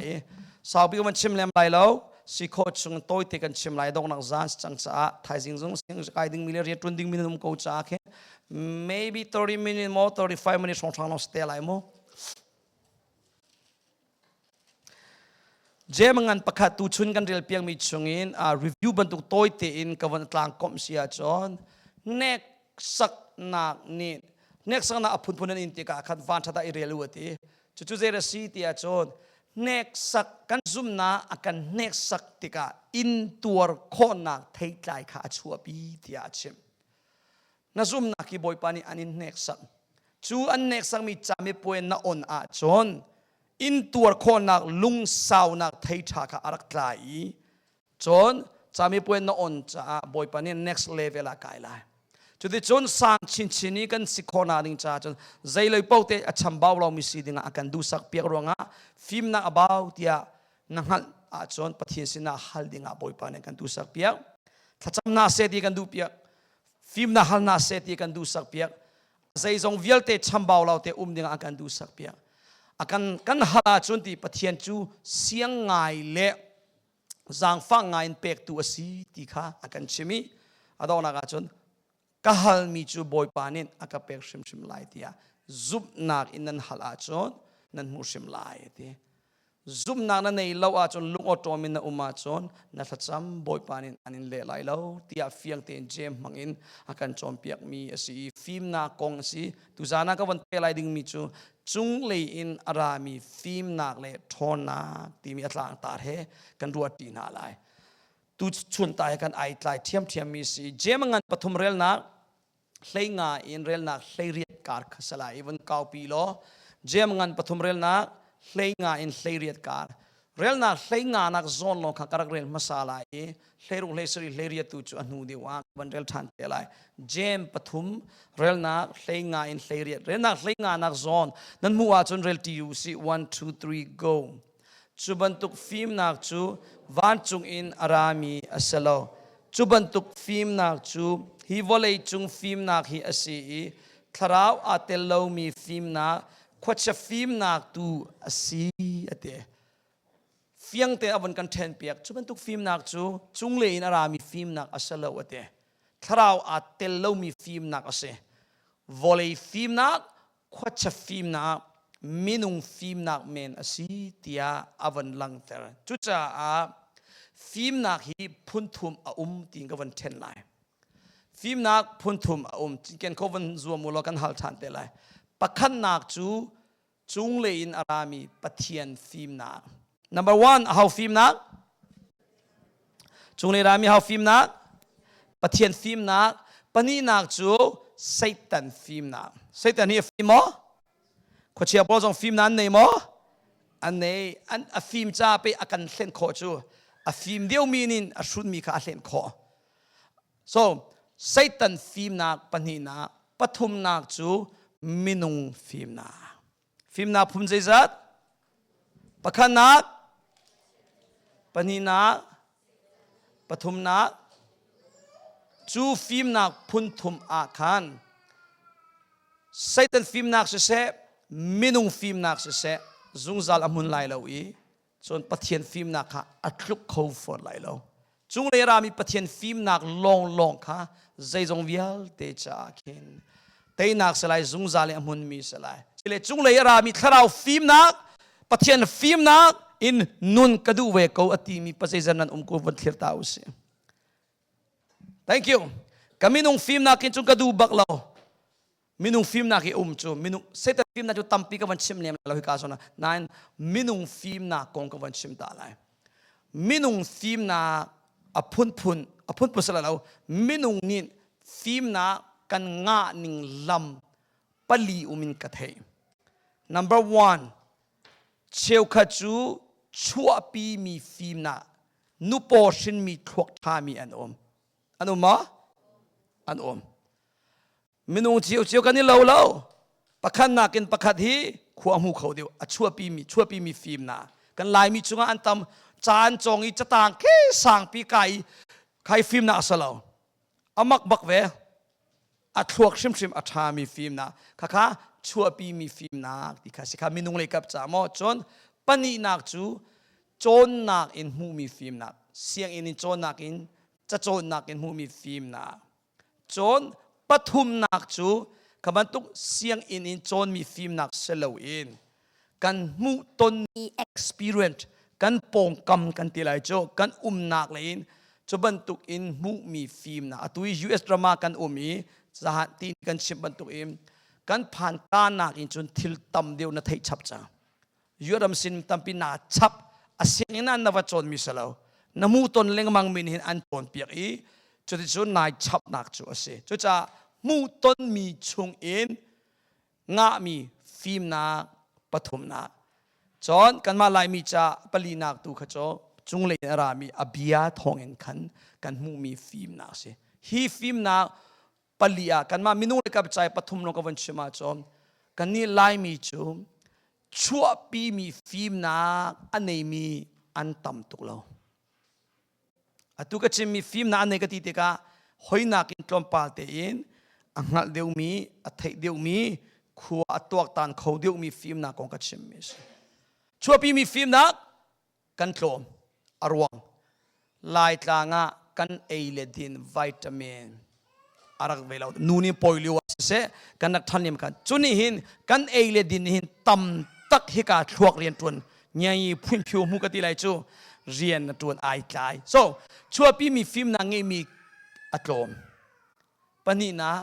i saupi kan chim lem lai lo si kho chung tawi te kan chim lai dongnak zan cang caah thaizing zung sing kai ding mi le riatun ding mi num ko caah khe maybe 30 minutes more 35 minutes song thang no stay lai mo jem ngan pakhat tu chun kan rel piang mi chungin a review bantuk toy te in kawan tlang kom sia chon nek sak nak ni nek sak na aphun phun in te ka khan van thata i relu ati Cucu zei a si tiah cun hneksak kan zumnak a kan hneksak tikah intuar khawhnak theitlai kha a chuahpi tiah a chim. Na zumnak hi Bawipa nih an in hneksak. Cu an hneksakmi camipuai na on ahcun intuar khawhnak lungsaunak thei ṭha kha a rak tla i Cun camipuai na on caah Bawipa nih next level ah kai lai. Cuticun sang chinchin i kan si khawhna ding caah cun zei loi paoh te a chambau lomi si dingah a kan duhsak piak ruangah fimnak a bau tiah na hngalh ahcun Pathian sinah hal dingah Bawipa nih kan duhsak piak. Thlacam na seh ti kan duh piak. Fim na hal na seh ti kan duhsak piak. Zeizong vialte chambau lo te um dingah a kan duhsak piak. A kan kan hal ahcun ti Pathian cu siang ngai le zaangfang ngaiin pektu a si ti kha a kan chim i a donghnak ah cun ka halmi cu bawipa nih a ka pek hrimhrim lai tiah zumhnak in nan hal ahcun nan hmuh hrim lai a ti zumhnak na nei lo ahcun lungawṭawm in na um ahcun na thlacam bawipa nih an in leh lai lo tiah fiang tein jem hmang in a kan cawnpiakmi a si i fimnak kong a si tuzaan ah ka van peh lai dingmi cu cunglei in a rami fimnak le ṭhawnnak timi a tlangtar he kan ruatpi hna lai. Tu chunta he kan ai tlai ṭhiamṭhiam mi si jem ngan pathum relnak hleinga in relnak hleiriat kar kha sala even kaupi law jem ngan pathum relnak hleinga in hleiriat kar relnak hleingaanak zawn lawng kha ka rak rel hmasa lai i hleirung hleisari hleiriatu cu a hnu deuh ah van rel ṭhan te lai jem pathum relnak hleinga in hleiriat relnak hleingaanak zawn nan hmuh ahcun rel ṭi u si 1 2 3 go cu bantuk fimnak cu vancung in a rami a si lo cu bantuk fimnak cu hi vawlei cung fimnak hi a si i thlarau aa tel lomi fimnak khuachia fimnak tu a si a ti fiangte a vun kan ṭhen piak cu bantuk fimnak cu cungle in a rami fimnak a si lo a ti thlarau aa tel lomi fimnak a si vawlei fimnak khuachia fimnak minung fimnak men a si tiah a van langhter cucaah fimnak hi phunthum a um ti ka van ṭhen lai Fimnak phunthum a um. Ken khovan zuam u law kan hal ṭhan te lai. Pakhatnak cu cunglei in a rami Pathian fimnak. Number one, a hau fimnak. Cunglei rami hau fimnak. Pathian fimnak. Pahnihnak cu Satan fimnak. Satan hi a fim maw? Khuachia pawl zong fimnak an nei maw? An nei. An, a fim ca pe a kan hlen khawh cu a fim deuhmi nin a hrunmi kha a hlen khawh. So Satan fimnak pahnihnak pathumnak cu minung fimnak. Fimnak phun zeizat? Pakhatnak, pahnihnak, pathumnak. Cu fimnak phun thum ah khan Satan fimnak siseh, minung fimnak siseh, zungzal a hmun lai lo i Cun Pathian fimnak kha a tluk kho fawn lai lo. Cunglei rami Pathian fimnak lawnglawng kha zeizong vialte caah khin teinak si lai, zungzal i a hmunmi si lai. Cile cunglei a rami thlarau fimnak, Pathian fimnak in nun ka duh ve ko a timi pa zeizan nan um ko vun thlir ta u si. Thank you. Ka minung fimnak in cun ka duh bak lo. minung fimnak i um cu minung satan fimnak cu tampi ka van chim lem lo hika so na nain minung fimnak kong ka van chim ta lai minung fimnak a phunphun a phunphun sala lo minung nih fimnak kan ngah ning lam pali um in ka thei number one cheukhat cu chuahpi mi fimnak nupaw hrinmi thluak ṭhami an um an um ma an um minung ciocio kan i lo lo pakhat nakin pakhat hi khua hmu kho deuh a chuapi mi chuapi mi fim na kan laimi chungah an tam caan cong i catang ke sangpi ka i khai fim na asa lo amak bak ve a thluak hrimhrim a ṭha mi fim na khakha chuapi mi fim na ti kha si kha minung lei kap ca maw cun pahnihnak cu cawnnak in hmuhmi fimnak sianginn in cawnnak in cacawnnak in hmuhmi fimnak Cun pathumnak cu kha bantuk sianginn in cawnmi fimnak si loin kan hmuhtonmi experience kan pawngkam kan ti lai cu kan umnak lei in cu bantuk in hmuhmi fimnak atu i US ram ah kan um i zahan ti kan chim bantuk in kan phan tanak in cun thil tam deuh na theih chap cang. yuaram sin tampi na chap asing in an na va cawn mi si lo na mu ton lengmang min hin an cawn piak i cuticun nai chapnak cu a si cucaah mu ton mi chung in ngahmi fimnak pathumnak cun kanmah laimi ca palinak tu kha cu cunglei in a rami a bia thawng in khan kan hmuhmi fimnak a si hi fimnak pali ah kanmah minung le ka biacai pathum lawng ka von chim ahcun kannih laimi cu chuahpimi fimnak a neimi an tam tuk lo atu ka chimmi fimnak an nei ka ti tikah hoinak in tlawmpal tein a hngalh deuhmi a theih deuhmi khua a tuaktan kho deuhmi fimnak kong ka chimmi a si chuahpimi fimnak kan tlawm a ruang laitlang ah kan ei le din vitamin a rak ve lo nu nih poi lio ah siseh kan rak ṭhan lem khan cu nih hin kan ei le din nih hin tam tak hika thluak rian ṭuan ngiangi phuin phiu mu ka ti lai cu rian na ṭuan ai tlai so chuapi mi fim na ngeihmi a tlawm pahnihnak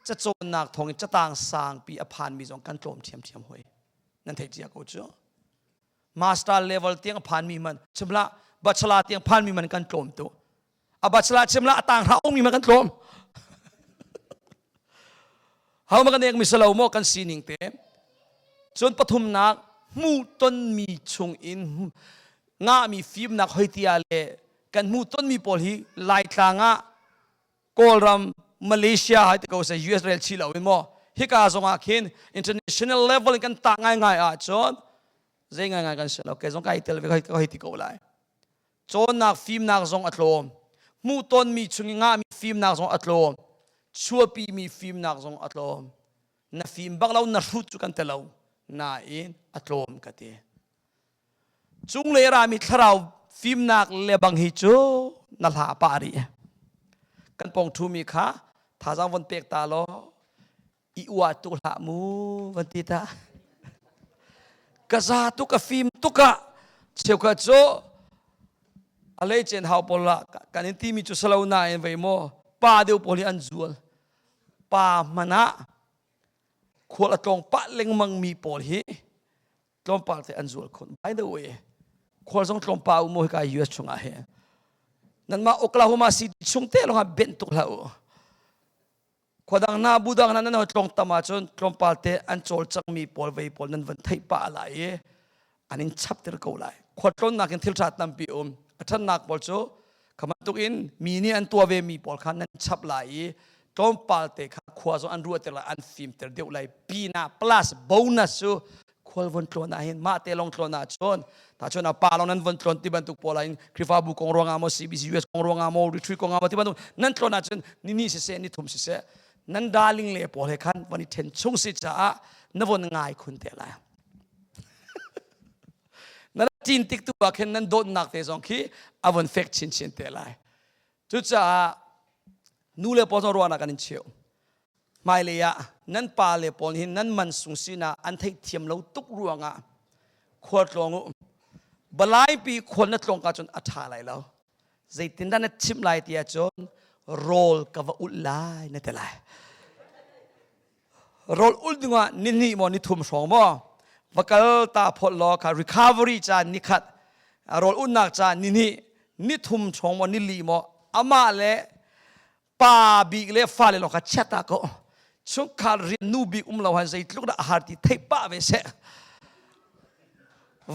cacawnnak thawngin catang sangpi a phanmi zong kan tlawm ṭhiamṭhiam hoi nan thei cia ko cu master level tiang phanmi man chimla bachelor tiang phanmi man kan tlawm tu a bachelor chimla a tang hra ongmi man kan tlawm hau ma kan ek misalo mo kan sining te cun pathumnak hmu tonmi chung in nga mi fim nak hoitia le kan hmu tonmi pawl hi laitlang ah Kawlram Malaysia hai te ko se US rel chi lo in maw hika zongah khin international level in kan tah ngaingai ahcun zei ngaingai kan si lo kei zong kai tel ve ka hei ti ko lai cawnnak fimnak zong a tlawm hmuhtonmi chung i ngahmi fimnak zong a tlawm chuahpimi fimnak zong a tlawm na fim bak lo na hrut cu kan te lo nain a tlawm ka ti Cunglei rami thlarau fimnak lebang hi cu na hla a pah rih. Kan pong ṭhumi kha thazang von pek ta law i ua tuk hlah mu van ti ta. Ka za tu ka fim tuk ah cheukhat cu a lei chen hau pawl lah kan in timi cu salo nain vei maw pa deu pawl hi an zual pa hman ah khual a tlong pah lengmang mi pawl hi tlawmpal te an zual khun by the way khual zong tlawmpa u mo ka US chungah hi nanmah Oklahoma City chung te longah ben tuk hla u khodang na budang na nan tlong tama chun tlawmpal te an chol changmi pawl vei pawl nan van thei pa lai i aning chap tir ko lai khotlon nakin thil tha tampi um athannak pawl chu Khamatukin mi nih an tuah ve mi pawl kha nan chap lai i tlawmpal te kha khua zong an ruah ter lai an fim ter deuh lai pina plus bonus cu khual von tlawn ah hin mah te long tlawn ah chon ta chon a pa long nan von tlawn ti bantuk pawl in Krifabu kong ruangah mo CBC US kong ruangah mo retreat kongah mo ti bantuk nan tlawn ah chun ni ni se se ni thum se se nan darling le pawl he khan van i then chung si caah na von ngai khun te lai Na cin tik tu ah khin nan dawtnak te zong khi a von fek chinchin te lai. Cucaah nu le pawl zong ruahnak kan in cheu. Hmailei ah nan pa le pawl hi nan man sung sinah an theih thiam lo tuk ruangah khual tlawng u. Balaipi khual na tlawng ka cun a ṭha lai lo. Zeitin dah na chim lai tiah cun rawl ka va ulh lai na te lai. Rol ul dingah nihnih maw ni thum hrawng maw va kal ta phot law kha recovery ca ni khat rol unnak ca ni hnih ni thum hrawng maw ni li maw amah le pa bik le fale lawng kha chiat ta ko chungkhar rian nu bik um lo han zeitluk dah a har ti theih pah ve seh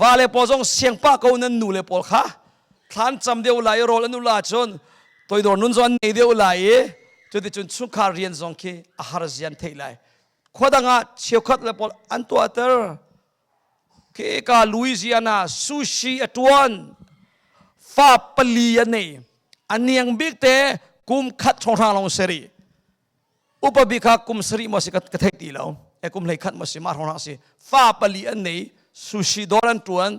vale pawl zong siangpah ko nan nu le pawl kha thlan cam deuh lai i rawl an ul ahcun toidor nun zo an nei deuh lai i cuticun chungkhar rian zong khi a har zian theih lai khua dang ah cheukhat le pawl an tuahter khi ka Louisiana sushi a tuan fa pali a nei a niang bik te kum khat chonghra lawng seri upabik kha kum sarih maw si ka thei ti lo e kum hlei khat maw si mah rona si fa pali an nei sushi dawr an tuan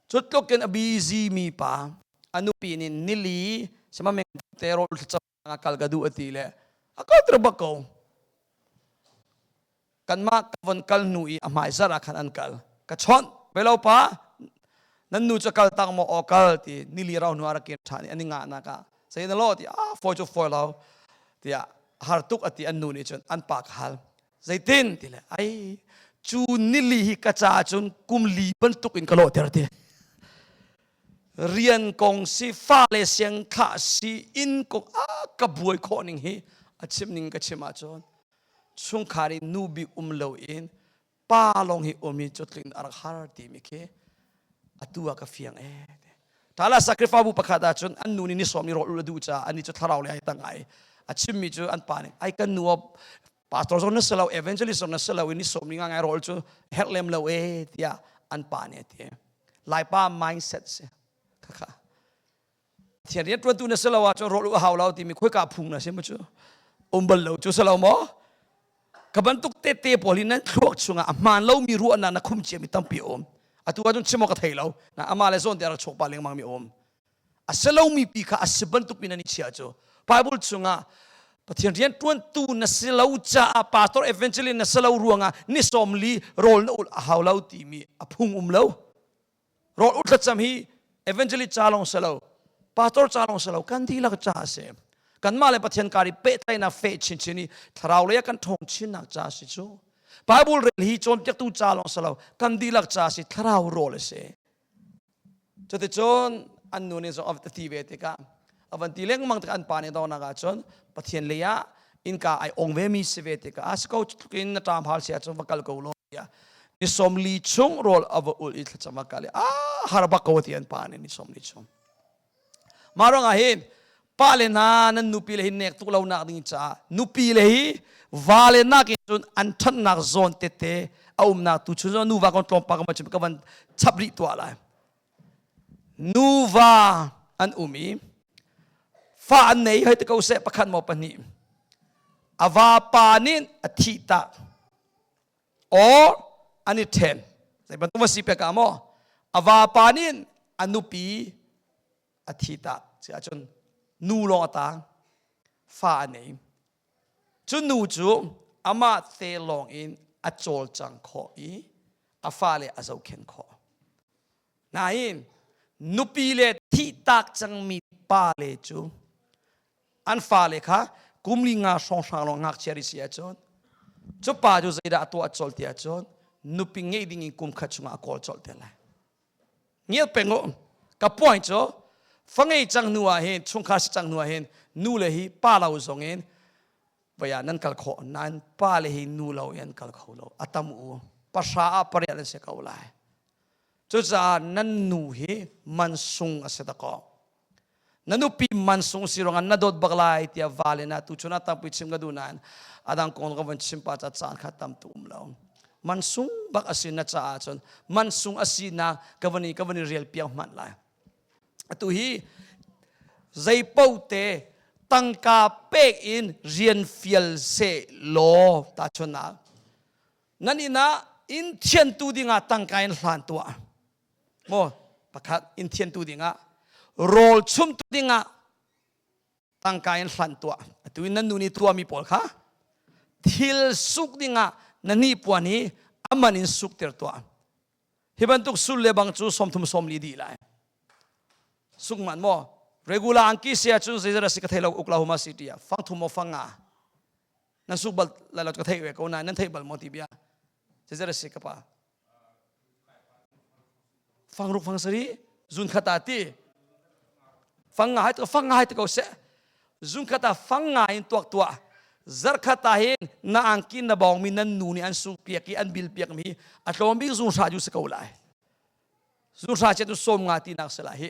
cutluk in a busy mi pa anu pi nin nili sema meng te rol tlo kal ga du ati le a ko tru ba ko kanmah ka von kal hnu i a hmaizar ah khan an kal ka chawnh velopa nan nu cu kal tak maw aw kal ti nili rau hnu ah rakin ṭhan i an i ngah nak ah sai na law ti a foi cu foi lo tiah har tuk ati an nu nih cun an pa ka hal zeitin ti le ai cu nili hi ka ca cun kum li bantuk in ka lawh ter ti rian kong si fa le siang khah si inn kong a ka buai khawh ning hi a chim ning ka chim ahcun chungkhar i nu bik um lo in pa lawng hi um in cutling a rak har timi khi atu ah ka fiang e ṭala sacrifice pakhat ah cun an nu nih ni sawm i rawl ul a duh caah an i cu thlarau le ai tang ai a chimmi cu an pa nih ai kan nu pastor zong na si lo evangelist zong na si lo i ni sawm ni nga ngai rawl cu herh lem lo e tiah an pa nih a ti laipa mindset si khakha Pathian rian ṭuantu na si lo ahcun rawl u a hau lo timi khoika phung na si maw cu um bal lo cu si lo maw ka bantuk tete pawl hi nan thluak chungah a hmaan lomi ruahnak na khum ciami tampi a um atu ahcun chim ka thei lo na amah le zawn te rak chawk pah lengmang mi a um a si lomi pi kha a si bantuk in nan i chia cu Bible chungah Pathian rian ṭuantu na si lo caah pastor evangelist na si lo ruangah ni sawm li rawl na ul a hau lo timi a phung um lo Rawl u thlacam hi evangelist ca lawng si lo, pastor ca lawng si lo, kan dihlak ca a si. Kanmah le Pathian kar i pehtlaihnak feh chinchin i thlarau lei ah kan ṭhawng chinnak ca a si cu. Bible rel hi cawnpiaktu ca lawng si lo, kan dihlak ca a si, thlarau rawl a si. Cuticun an nu nih zong a ti ve tikah a van ti lengmang ti an pa nih dornak ah cun pathian lei ah innka ai ong ve mi si ve tikah a si ko tluk in na ṭam hal sia cu va kal ko law tiah ni som li chung rawl a va ul i thlacam a kal i a har bak ko ti an pa nih ni som li chung mah ruangah hin pa le hna nan nupi le hi nek tuk lonak ding caah nupi le hi va le nak in cun an ṭhannak zawn tete a umnak tu chun nu va kon tlawm pa ka ma cu ka van chap rih tuah lai Nuva an um i fa an nei hoi ti ko seh pakhat maw pahnih a vapa nih a thih tah or an i ṭhen zei bantuk va si pek ah maw a vapa nih a nupi a thi tah si ahcun nu lawng a tang fa a nei Cu nu cu amah te lawng in a cawlcang khawh i a fale a zohkhenh khawh. Nain nupi le thihtak cangmi pale cu an fale kha kum li nga hrawnghrang lawng ngakchia rih si ahcun cu pa cu zeidah a tuah colh ti ahcun nupi ngeih ding in kum khat chungah a kawl colh te lai. ngial peng u ka puai cu fangei cang hnu ah hin chungkhar si cang hnu ah hin nu le hi pa lo zong in vaya nan kal khawh nan pa le hi nu lo in kal kho lo atam u pahra ah pariat an si ko lai cucaah nan nu hi mansung a si ta ko na nupi mansung si ruangah na dawt bak lai tiah val in a tu chun a tapui chim ka duh nain adang kong ka van chim pa ca caan kha tam tu um lo mansung bak asi na caah cun mansung asi na ka van i ka van i rial piang hman lai atu hi zeipo te tangka pek in rian fial se law ta chuna nan ina in thian tu dingah tangka in hlan tua maw pakhat in thian tu dingah rawl chum tu dingah tangka in hlan tuah atu in nan nu nih tuami pawl kha thil suk dingah na ni puan i aman in suk ter tuah hi bantuk sul le bang cu somthum somli di lai suk man maw regular angki sia cun zeizara si ka thei lo uk la huma si tia fang thum mo fanga nan suk bal la lo ka thei ve ko na nan thei bal mo ti bia zeizara si ka pa fang ruk fang sari zun khata ti fang nga hai to fang nga hai to ko se zun khata fang nga in tuak tua zar khata hin na angki na bawng mi nan nu nih an sung piak i an bil piak mi a tlawm bik zun sha ju se ko lai zun sha che tu som nga ti nak se la hi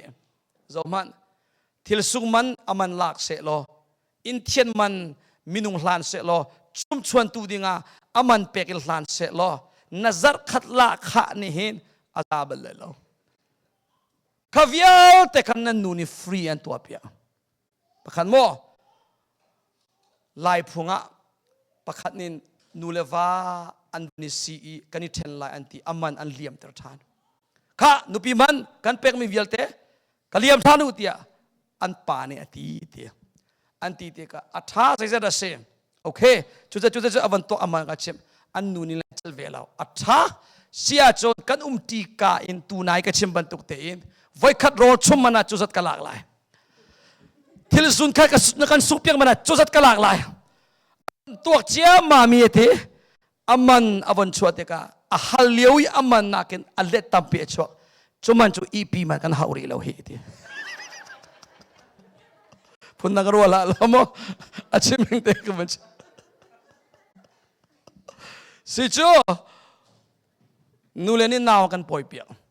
zo man thil sung man aman lak se lo in thian man minung hlan seh law chumchuantu dingah aman pek in hlan seh law na zarh khat la khah ni hin a za bal lo kha vialte khan nan nu nih free an tuah piak pakhat maw lai phung ah pakhat nin nu le va an ni si i kan i ṭhen lai an ti aman an liam ter ṭhan kha nupi man kan pekmi vialte ka liam ṭhan u tiah an pa nih a ti ti an ti tikah a ṭha zeizat a si okay cucu cucu cu avan tuah aman ka chim an nu nih le chel ve lo a ṭha sia cun kan um ṭi ka in tunai ka chim bantuk tein voikhat rawl chum mana cu zat ka lak lai thil sun khat ka kan su piang mana cu zat ka lak lai tuak cia ma mi ti aman avon chuah tikah a hal lio i aman nakin a let tampi a chuah cuman cu ihpi man kan hau rih lo hi ti phun na ka rual ah lo maw a chiming te ka man si cu nu le nih nau kan pawi piak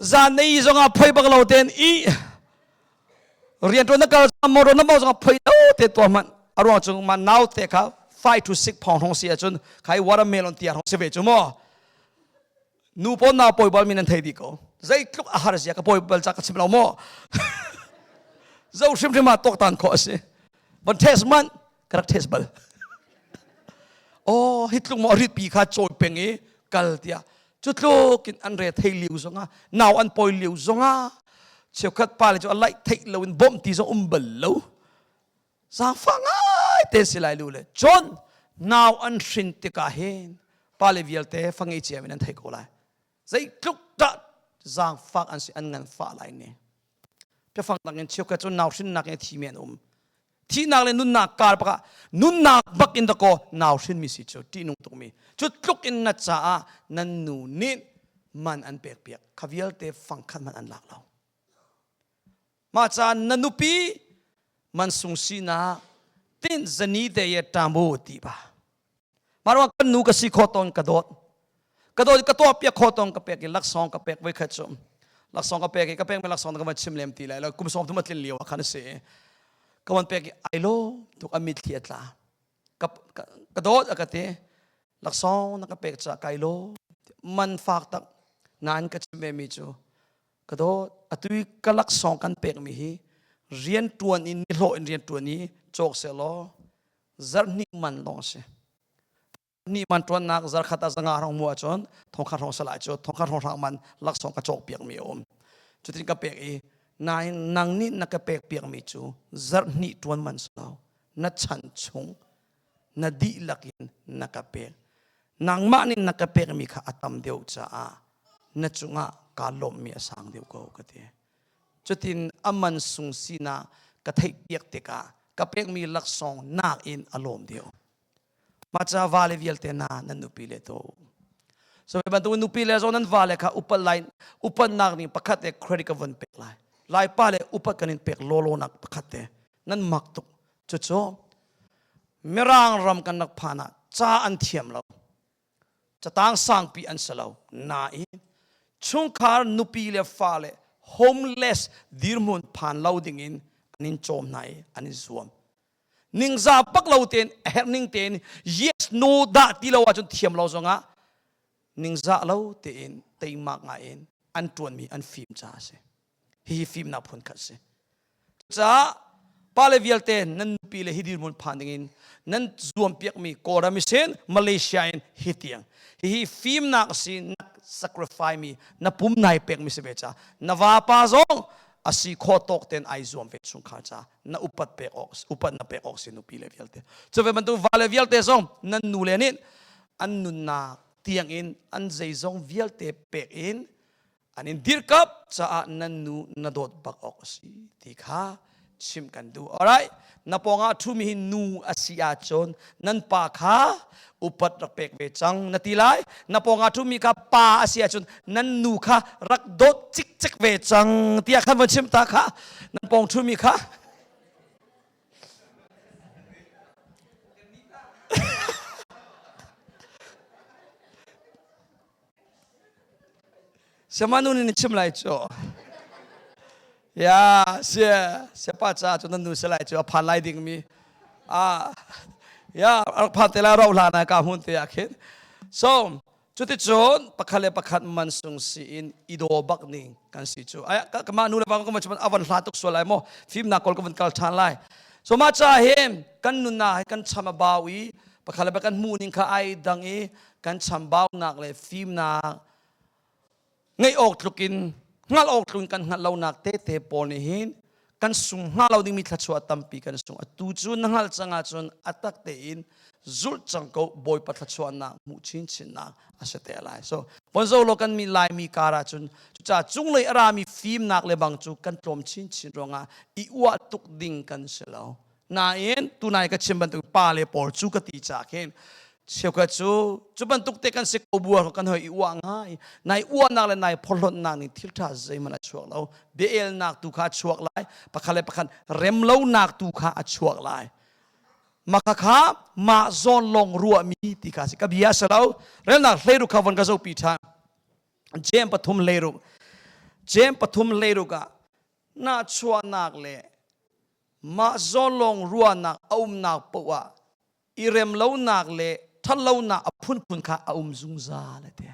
zanei zongah phoi bak lo ten i rian tuan na kal mo ro na mo zongah phoi lo te to man arwang chung ma now te kha five to six pound hong si achun khai watermelon tia hong si ve chu mo nu pon na poi bal min an thei di ko zai tluk a har sia ka poi bal cha ka chim lo mo zo hrim hrim ma tok tan kho asi but test man ka rak test bal oh hi tlung mo rit pi kha chawi peng i kal tia cu tluk in an re thei liu zonga nau an poi liu zonga cheukhat pa le cu alai thei loin bom ti zo um bal lo zangfa ngai te si lai lu le chon nau an hrin tika hin pa le vialte fangi ciam in an thei ko lai zei tluk dah zangfak an si an ngan fa lai ne pia fang tang in cheu ka cu nau hrin nak in thi men um thihnak le nunnak kar bakah nunnak bak in dakaw nau hrinmi si cu ṭihnung tukmi cu tluk in na caah nan nu nih man an pekpiak kha vialte fangkhat man an lak lo mah caan na nupi man sung sinak tin zani te ye ṭamu ti ba Mah ruang kan nu ka si kho ton ka dawt. Ka dawt ka tuah piak kho ton ka pek i laksawng ka pek voi khat cu. Laksawng ka pek i ka pek mi laksawng ka van chim lem ti lai lo. Kum sawm thum a tlin lio ah khan a si i ka van pek i ai lo tuk a mit thli a tla. Ka, ka, ka dawt a ka ti. Laksawng na ka pek ca kai lo. Man fak tak nan ka chim ve mi cu ka dawt atu i ka laksawng kan pek mi hi rian tuan in ni hlawh in rian tuan i cawk seh law zarhhnih man lawng a si ni man ṭuannak zarkhat a zanga rong mu ahcun thongkhat rong salai cu thongkhat rong hrang man laksawng ka cawk piakmi a um cutin ka pek i nain nang nih na ka pek piakmi cu zarhhnih ṭuan man si lo na chan chung na dihlak in na ka pek nangmah nih na ka pekmi kha a tam deuh caah na cungah kaa lawmhmi a sang deuh ko ka ti Cutin a man sung sinak ka theihpiak tikah ka pekmi laksawng nakin a lawm deuh. Maca vale vialte na nan nupi le to. So hi bantuk nupi le zo nan vale kha upat lai upatnak ning pakhat te credit ka von pek lai. Lai pa le upat kan in pek lolonak pakhat te nan mak tuk. Cucu Mirang ram kan rak phan ah ca an thiam lo. Catang sangpi an si lo. Nain, chungkhar nupi le fale homeless dirhmun phan lo dingin an in cawm hna i an in zuam. Ningza pak lo tein a herh ning tein yes no dah ti lo ahcun thiam lo zongah ningzah lo tein teimak ngaiin an ṭuanmi an fim caah a si. hihi fimnak phun khat si caah pale vialte nan nupi le hi dirmun phan dingin nan zuampiakmi kawlram sin malaysia in hi tiang hihi fimnak si nak sacrifice mi na pum nai pekmi si ve ca na vapa zong asi kho tawk ten ai zuam ve chung kha ca na upat pek awk upat na pek awk si nupi le vialte cu ve bantu vale vialte zong nan nu le nin an nunnak tiang in an zeizong vialte pek in an in dirkamh caah nan nu na dawt bak awk a si ti kha chim kan duh alright na pawngah ṭhumi hi nu a si ahcun nan pa kha upat rak pek ve cang na ti lai na pawngah ṭhumi kha pa a si ahcun nan nu kha rak dawt cikcik ve cang tiah kan von chim ta kha nan pawng ṭhumi kha Siamanu nih na chim lai cu. Ya, si, siapa ca cu nan nu si lai cu a phan lai dingmi. Ah, ya, rak phan te lai rauh hlan ah ka hmun te ah khin. So, cuticun pakhat le pakhat mansung si in i daw bak ning kan si cu. Ai, ka mah nu le pa ka cun avan hla tuk sual lai maw. Fimnak kol ka van kal ṭhan lai. So ma ca hi kan nuna hi kan cham a bau i pakhat le pakhat hmuh ning kha ai dang i kan chambaunak le fimnak ngeih awk tluk in hngalh awk tluk in kan hngalh lonak tete pawl nih hin kan sung hnga lo dingmi thluachuah tampi kan sung a tu cu na hngalh cang ahcun a tak tein zulh cang ko bawipa thluachuahnak hmuh chinchinnak a si te lai so bonzo lo kan mi laimi kar ahcun cucaah cunglei a rami fimnak le bang cu kan tlawm chinchin ruangah i uah tuk ding kan si lo Nain tunai ka chim bantuk pa le pawl cu ka ti cha khin cheukhat cu cu bantuk te kan si ko buar kan hoi i uah ngai nai uahnak le nai phorhlonnak nih thil tha zeihmanh a chuak lo bia-elnak tu kha a chuak lai pakhat le pakhat remlonak tu kha a chuak lai maka kha mah zawn lawng ruahmi ti kha si ka bia sa lo relnak hleiru kha von ka zopi tha jem pathum leiru jem pathum leiruk ah na chuahnak le Mah zawlawng ruahnak a umnak paoh ah i remlonak le ṭhatlonak a phunphun kha a um zungzal a ti.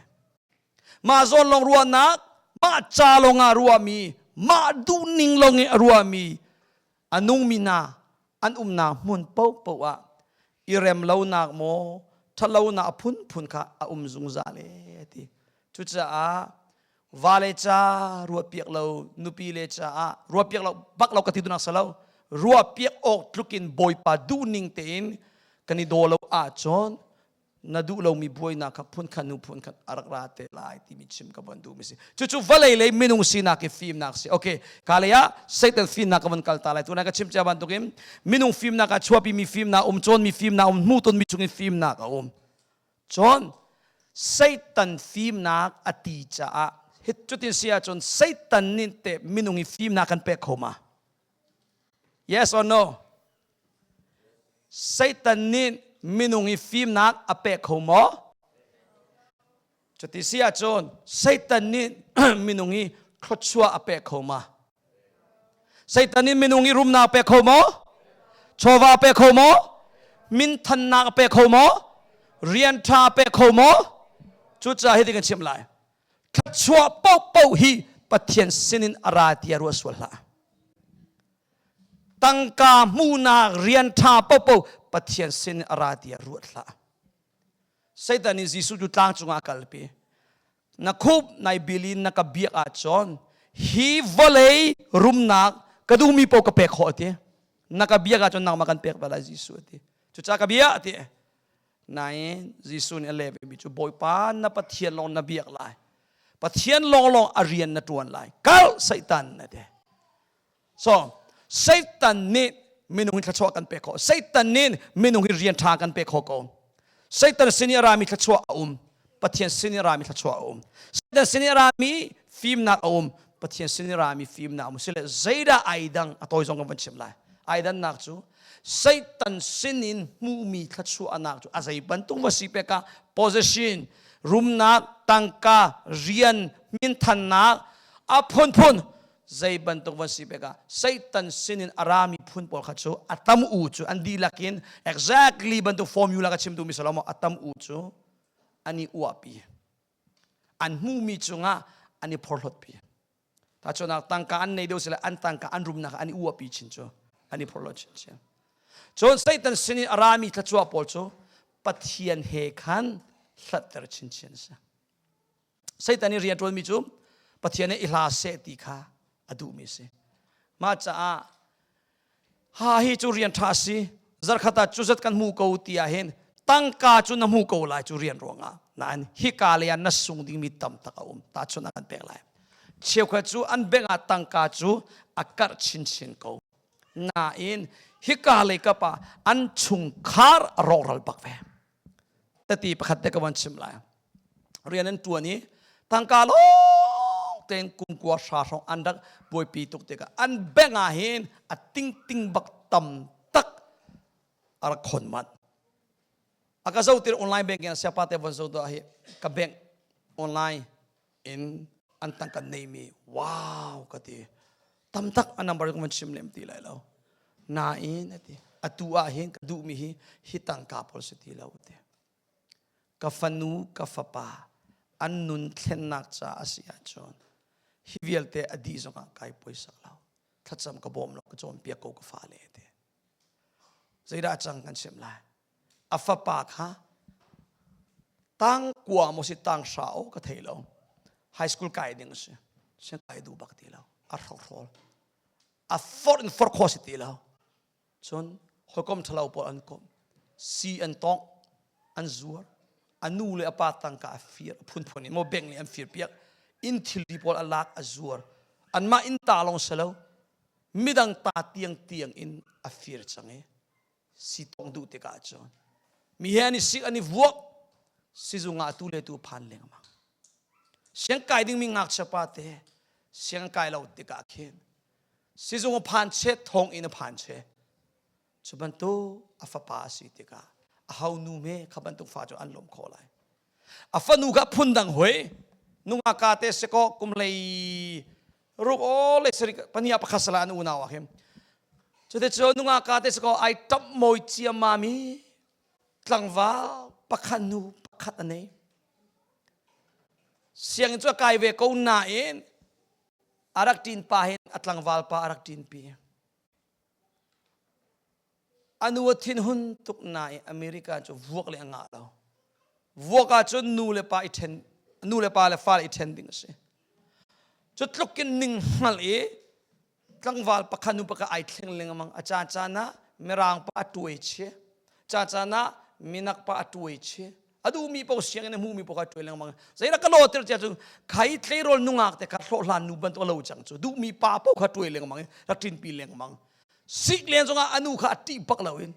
Mah zawlawng ruahnak mah ca lawng ah a ruahmi mah duhning lawng i a ruahmi a nungmi hna an umnak hmun paohpaoh ah i remlonak maw ṭhatlonak a phunphun kha a um zungzal e a ti. Cucaah vale ca ruah piak lo nupi le caah ruah piak lo bak lo ka ti dunak sa lo ruah piak awk tlukin bawipa duh ning tein kan i daw lo ahcun na duh lomi buainak kha phun khan nu phun khan a rak ra te lai timi chim ka von duhmi si cucu vale lei minung sinak i fimnak si okay ka lei ah satan fimnak ka von kal ta lai tunai ka chim cia bantukin minung fimnak a chuapi mi fimnak um cun mi fimnak um hmuh ton mi chungin fimnak a um Cun Satan fimnak a ti caah hi cutin si ahcun Satan nih teh minung i fimnak kan pek kho ma? Yes or no? Satan nih minung i fimnak a pek kho maw? Cuti si ahcun Satan nih minung i thluachuah a pek kho ma? Satan in minung i rumnak pe kho maw? Chawva pe kho maw? Minthannak pe kho maw? Rian ṭha pe kho maw? Cucaah hitin kan chimh lai. Thluachuah paohpaoh hi Pathian sinin a ra tiah ruah sual hlah. Tangka hmuhnak rian ṭha paohpaoh Pathian sinin a ra tiah ruat hlah. Satan in Jesuh cu tlang cungah a kalpi. na khup nai bil in na ka biak ahcun hi vawlei rumnak ka duhmi paoh ka pek khawh ati na ka biak ahcun nangmah kan pek ve lai Jesuh ati cuca ka bia ati nain Jesuh nih a leh vemi cu Bawipa na Pathian lawng na biak lai Pathian lawnglawng a rian na ṭuan lai kal Satan na ti So Satan nih minung hi thluachuah kan pek khawh. Satan nih minung hi rian ṭha kan pek khawh ko. Satan sin i a rami thluachuah a um. Pathian sin i a rami thluachuah a um. Satan sin i a rami fimnak a um. Pathian sin i rami fimnak a um. Sile zeidah ai dang a tawi zong kan van chim lai. Ai dannak cu Satan sin in hmuhmi thluachuahnak cu a zei bantuk va si pek ah possession, rumnak, tangka, rian, minthannak, a phunphun zei bantuk va si pek ah Satan sin in a rami phun pawl kha cu a tam u cu an dihlak in exactly bantuk formula ka chimtu mi Salomo a tam u cu an i uahpi an hmuhmi cungah an i phorhlotpi thachunak tangka an nei deuh sila an tangka an rumnak an i uahpi chin cu an i phorhlot chinchin cun Satan sin i a rami thluachuah pawl cu Pathian he khan hlatter chinchin a si Satan i rian ṭuanmi cu Pathian i hla seh ti kha a duhmi a si. Mah caah ha hi cu rian ṭha a si. Zarkhat ah cu zat kan hmu ko ti ahhin tangka cu na hmu ko lai cu rian ruangah. Nain hika lei ah na sung dingmi tamtak a um. Tahchunh an pek lai. Cheukhat cu an bank ah tangka cu a karh chinchin ko. Nain hika lei kap ah an chungkhar a rawhral bak ve. tati pakhat te ka van chim lai rian an tuan i tangka lawng tein kumkua hra hrawng an rak buaipi tuk tikah an bank ah hin a tingting bak tam tak a rak khon mat a ka zotir online banking siapa te von zo to hi ka bank online in an tang kan nei mi wow ka ti tam tak a number kan van chim lem ti lai lo nain ati atu ah hin ka duh mi hi hi tangka pawl si ti lo ti ka fanu ka fapa an nun thlennak ca a si ahcun hi vialte a dih zong ah kai poisa lo thlacam ka bawm lo ka cawnpiak ko ka fa le ti zeidah cang kan chim lai a fapa kha tang kua maw si tang hra o ka thei lo high school kai ding si sin kai du bak ti lo a hrohrol a forh in forh kho si ti lo cun hoikom thalo pawl an kom si an tong an zuar a nu le a pa tangka a fir a phunphun in mo beng le an fir piak in thilri pawl a lak a zuar an mah in ta long selo midang ta tiang tiang in a fir chang i si tong duh tik ahcun mi he an i sik an i vuak sizung ah tu le tu phan lengmang siang kai dingmi ngakchia pa te siang kai lo tik ah khin sizung a phan che thong in a phan che cu bantuk a fapa a si tikah a hau nu me kha bantuk fa cu an lawm khawh lai a fanu kha phundang hoi nunga ka te se ko kum lei ruk o le sari pania pakhat sala an unau a him Cuti cu nunga ka te se ko ai tap moi cia mami tlangva pakhat nu pakhat anei siang cu kai ve ko nain arak tin pa hin a tlangval pa arak tin pi a nu a thinhun tuk na i America cu vuak le a ngah lo vuak ahcun nu le pa i ṭhen nu le pa le fale i ṭhen ding a si cu tluk in ning hngal i tlangval pakhat nu pakhat ai thleng lengmang a ca caan ah mirangpa a ṭuai chih cacan ah minak pa a ṭuai chih a duhmi paoh sianginn a hmuhmi paoh kha ṭuai lengmang zeidah ka lawter cia cu khai tleirawl nungak te kha hlawhhlan nu bantuk lo cang cu duhmi pa paoh kha ṭuai lengmang i rak ṭinpi lengmang sik leng cungah a nu kha a ṭih bak loin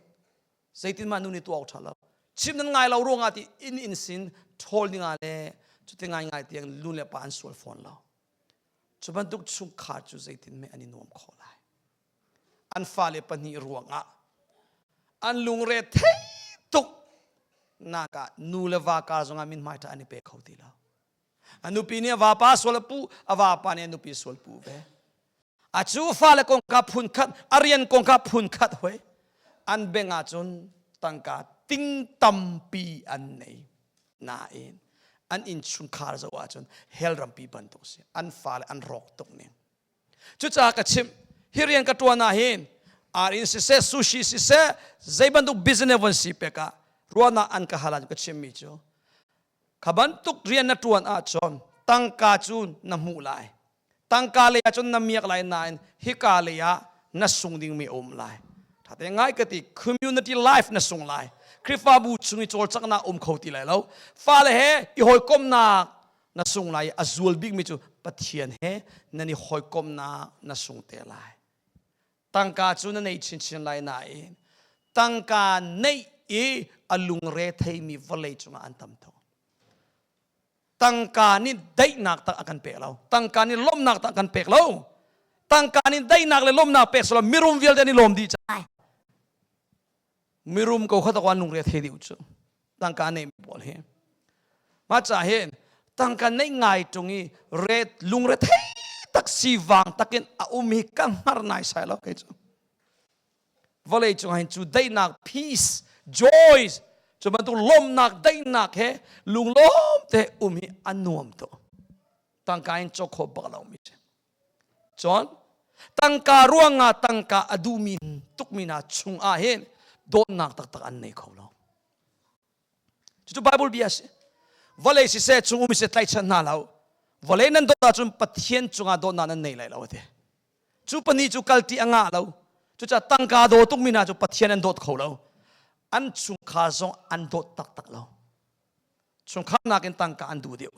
zeitin mah nu nih tuah ṭha lo chim nan ngai lo ruangah ti inn in sin ṭhawl ninga le cuti ngaingai tiang nu le pa an sual fawn lo cu bantuk chungkhar cu zeitin meh an i nuam khawh lai an fale pahnih ruangah an lungre thei tuk naka nu le va ka zongah min hmai ṭha an i pe kho ti lo a nupi nih a vapa sual a pu a vapa nih a nupi sual pu ve a cu fale kongka phun khat a rian kongka phun khat hoi an beng ahcun tangka ting tampi an nei nain an innchungkhar zoh ahcun hell rampi bantuk si an fale an rawk tuk ning cucaah ka chim hi rian ka ṭuan ah hin ar in siseh sushi siseh zei bantuk business von si pek ah ruahnak an ka hal ah ka chimmi cu kha bantuk rian na ṭuan ahcun tangka cu na hmuh lai tangka lei ahcun na miak lai nain hika lei ah na sung dingmi a um lai ṭhate ngai ka ti community life na sung lai Khrihfabu chung i cawlcanghnak um kho ti lai lo fale he i hawikomnak na sung lai a zual bikmi cu Pathian he nan i hawikomhnak na sung te lai tangka cu na neih chinchin lai nain tangka neih i a lungre theimi vawlei cungah an tam tho tangka nih daihnak tak a kan pek lo tangka nih lawmhnak tak kan pek lo tangka nih daihnak le lawmhnak pek selaw mirum vialte nih lawm dih cang mirum kokhat awan lungre the deuh cu tangka nei pawl hi ma ca hi tangka nei ngai tung i ret lungre the tak si wang takin a um hi ka hngar nai sai lo kai cu vawlei cung hin cu daihnak peace joys cu bantuk lomnak daihnak he lunglom te um hi an nuam to tangka in chokho bak lo mi si Cun tangka ruangah tangka a duhmi tukmi hna chungah hin dawtnak taktak an nei kho lo. Cucu Bible bia a si. Vawlei siseh, chung um siseh tlaihchan hna lo. Vawlei nan dawt ahcun Pathian cungah dawtnak nan nei lai lo a ti. Cu pahnih cu kalti a ngah lo. Cucaah tangka daw tukmi hna cu Pathian an dawt kho lo. An chungkhar zong an dawt taktak lo. Chungkhar nakin tangka an duh deuh.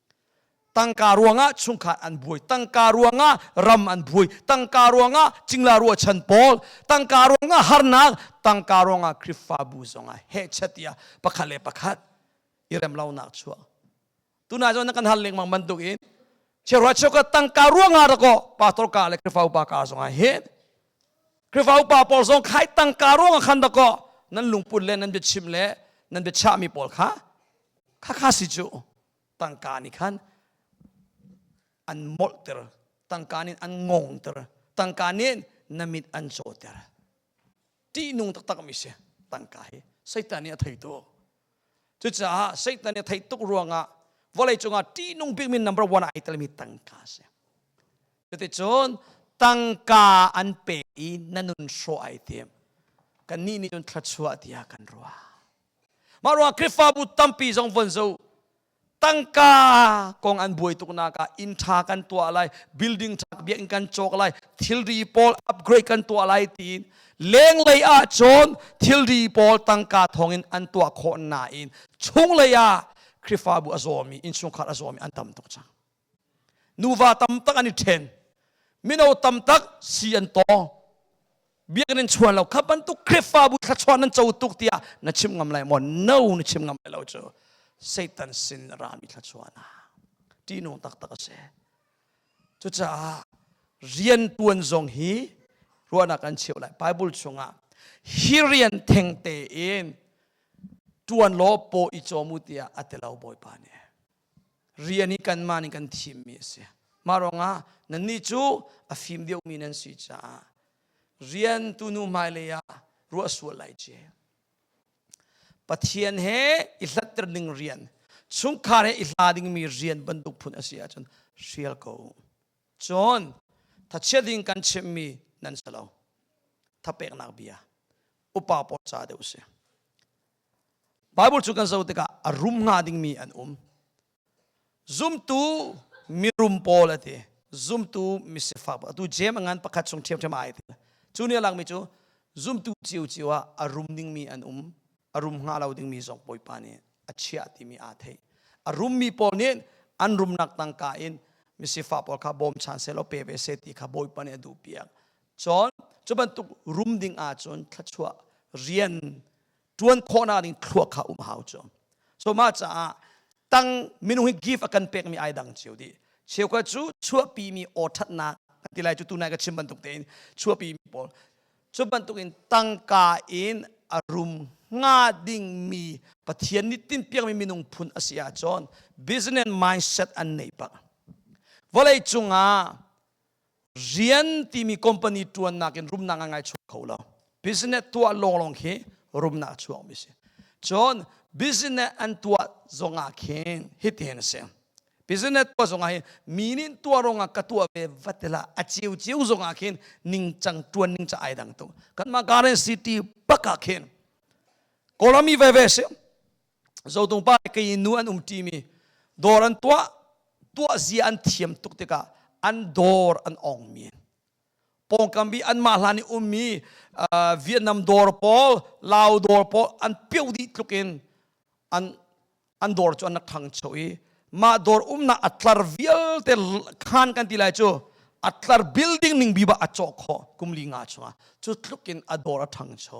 tangka ruangah chungkhat an buai tangka ruangah ram an buai tangka ruangah cingla ruahchan pawl tangka ruangah harnak tangka ruangah khrifabu zongah hehchatia pakhat le pakhat i rem lonak chuah tuna zong na kan hal lengmang bantuk in cheuhra cheuka tangka ruangah rako pastor ka le khrifa upa ka zongah hin Khrihfa upa pawl zong khai tangka ruangah khan dakaw nan lungput le nan biachim le nan biachahmi pawl kha khakha si cu tangka nih khan an molhter tangka nih an ngongter tangka nih na mit an cawter ṭihnung taktak mi si tangka hi satan nih a theitu Cucaah Satan i thei tuk ruangah vawlei cungah ṭihnung bikmi number one ai telmi tangka a si. Cuticun tangka an pek i na nun hrawh ai tim. Kannih nih cun thluachuah tiah kan ruah. Mah ruang Khrihfabu tampi zong von zoh. tangka kong an buai tuknak ah inn ṭha kan tuah lai building ṭha biakinn kan cawk lai thilri pawl upgrade kan tuah lai tiin lenglei ah cun thilri pawl tangka thawngin an tuah khawh nain chunglei ah Khrihfabu a zawmi innchungkhar a zawmi an tam tuk cang nuva tam tak an i ṭhen mino tam tak si an tawng biakinn in chuan lo kha bantuk khrifabu thluachuah nan co tuk tiah na chim ngam lai maw no na chim ngam lai lo cu satan sin na rami thluachuah na ṭihnung taktak a si cucaah rian ṭuan zong hi ruahnak an cheu lai bible chungah hi rian thengte in ṭuan law paw i cawm u tiah a ti lo bawipa nih rian i kanmah nih kan thimmi a si. Mah ruangah nannih cu a fim deuhmi nan si caah rian tunu hmailei ah ruah sual lai ci. Pathian he i hlatter ding rian, chungkhar he i hla dingmi rian bantuk phun a si ahcun hrial ko. Cun thachia ding kan chimmi nan si lo. Thapeknak bia upa pawl ca deuh si. Baibal cu kan zoh tikah a rum hnga dingmi an um. Zumtu mirum pawl a ti. Zumtu misifak. Atu jem a ngan pakhat chung ṭhiamṭhiam ai ti. Cu nih a langmi cu zumtu cio cio ah a rum dingmi an um. A rum hnga lo dingmi zong Bawipa nih a chiah timi aa thei. A rummi pawl nih an rumnak tangka in misifak pawl kha bawm chan sehlaw pe ve se ti kha Bawipa nih a duhpiak. Cun cu bantuk rum ding ahcun thluachuah rian ṭuan khawhnak ding thluak kha um hau cu so mah caah tang minung hi give a kan pekmi ai dang cio dih cheuka cu chuahpimi aw ṭhatnak ti lai cu tunai ka chim bantuk tein chuahpimi pawl cu bantukin tangka in a rum nga dingmi pathian nih tinpiakmi minung phun a si ahcun business mindset an nei pak vawlei cungah rian timi company ṭuannak in rumnak a ngai chuak kho lo business tuah lawnglawng khi rumnak a chuakmi a si cun business an tuah zongah khin hitin a si business tuah zongah hin mi nih tuah ruangah ka tuah ve va tila a ciu ciu zongah khin ningcang ṭuan ning ca ai dang tung kanmah current city bakah khin kawlram i veve a si zotung pa kei nu an um ṭi mi dawr an tuah tuah zia an thiam tuk tikah an dawr an ong mi pawngkam bi anmah hlan i ummi Vietnam dawr pawl Lao dawr pawl an pio dih tluk in an an dawr cu an rak ṭhangcho i mah dawr umnak a tlar vialte khan kan ti lai cu a tlar building ning bi ba a cawh khawh kumli nga chungah cu tluk in a dawr a ṭhangcho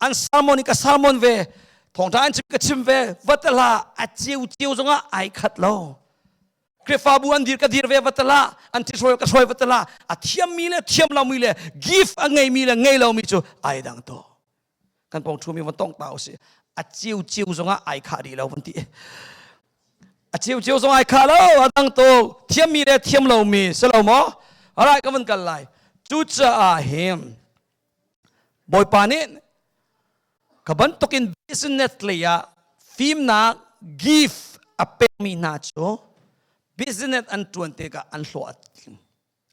an sermon i ka sermon ve thawngṭha an chim ka chim ve vatala a ceu ceu zongah ai khat lo Krifabu an dir ka dir ve vatala an ti hruai ka hruai vatala a thiammi le thiam lomi le gift a ngeimi le ngei lomi cu ai dang to kan pong thumi van tong ta usi a ceu ceu zongah ai kha rih lo van ti a ceu ceu zong ai kha lo a dang to thiammi le thiam lomi si lo maw alright ka van kal lai cucaah him Bawipa nih ka bantukin business lei ah fimnak give a pekmi hna cu business an ṭuan tikah an hlawh a tling.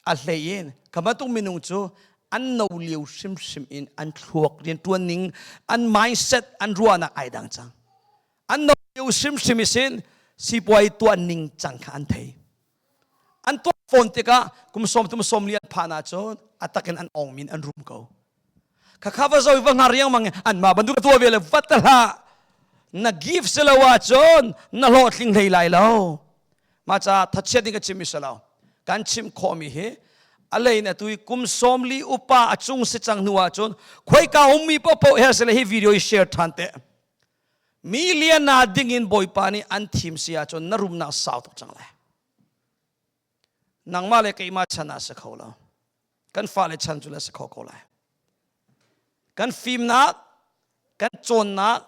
A hlei in ka bantuk minung cu an no lio hrimhrim in an thluak rianṭuan ning, an mindset, an ruahnak ai dang cang. An no lio hrimhrim i sin sipuai tuah ning cang kha an thei. An tuah fawn tikah kum sawm tum sawm li an phan ahcun a takin an ong min an rum ko. Khakha va zoi va hngar riangmang an ma bantuk tua ve le vat hlah na give si lo ahcun na hlawhtling hlei lai lo. Ma ca thatchiat nih ka chim mi lo. Kan chim khawmi hi alein atu i kum sawm li upa a cung si cang hnu ahcun khoi ka ummi popo her sile hi video i share than te. Mi liana dingin Bawipa nih an thim si ahcun na rumnak sau tuk cang lai. Nangmah le keimah chan ah si kho lo. Kan fale chan cu le si kho ko lai. Kan fimnak, kan cawnnak,